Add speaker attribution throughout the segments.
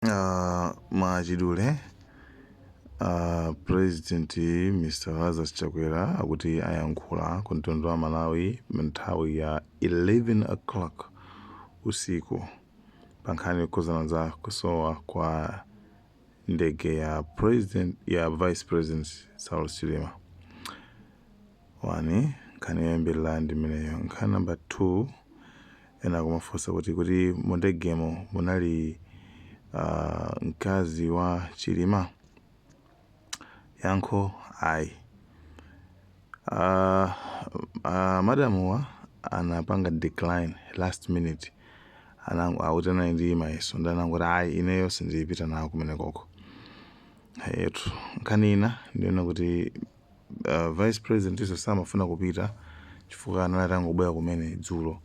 Speaker 1: Uh, mwachidule uh, president mr lazarus chakwera akuti ayankhula ku mtundu wa amalawi nthawi ya 11 o'clock usiku pa nkhani yokhuzana za kusowa kwa ndege ya vice president saulos chilima 1 nkhani yoyambirira ndi imeneyo. Nkhani namba 2 ena akumafunsa kuti kuti mundegemo munali ah, mkazi wa Chilima? Yankho ayi. Ah, ah, madamuwa anapanga decline last minute akuti anali ndi mayeso ndi anangoti ayi ineyo sindipita nawo kumenekoko. Eyetu nkhani ina ndi yonena kuti vice president nso samafuna kupita chifukwa anali atangobwera kumene dzulo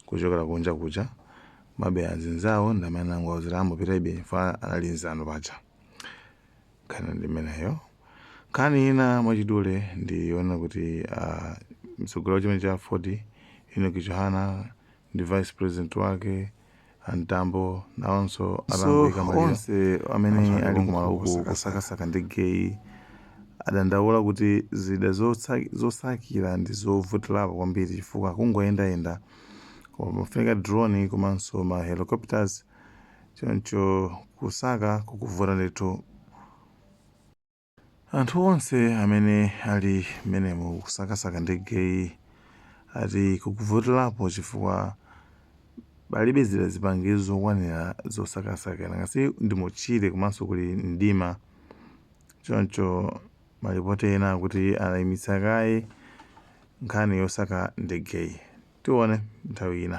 Speaker 1: kuchokera kunja kuja ma bwana azinzawo ndi amene anangowauzira angopitabe chifukwa anali nzanu paja nkhani ndi imeneyo nkhani ina mwachidule ndi yonena kuti uh, mtsogoleri wa chipani cha aford enock chihana ndi vice president wake A Mtambo nawonso atangoika maliro onsewo amene ali kumalo uku kusakasaka ndegeyi adandaula kuti zida zosakira ndi zovutirapo kwambiri chifukwa akungoyendayenda koma pamafunika drone komanso ma helicopters choncho kusaka kukuvuta ndithu. Anthu onse amene ali mmenemo kusakasaka ndegeyi ati kukuvutirapo chifukwa palibe zida zipangizo zokwanira zosakasakira nanga si ndi mu tchire komanso kuli mdima choncho malipoti ena akuti anayimitsa kaye nkhani yosaka ndegeyi tione nthawi ina.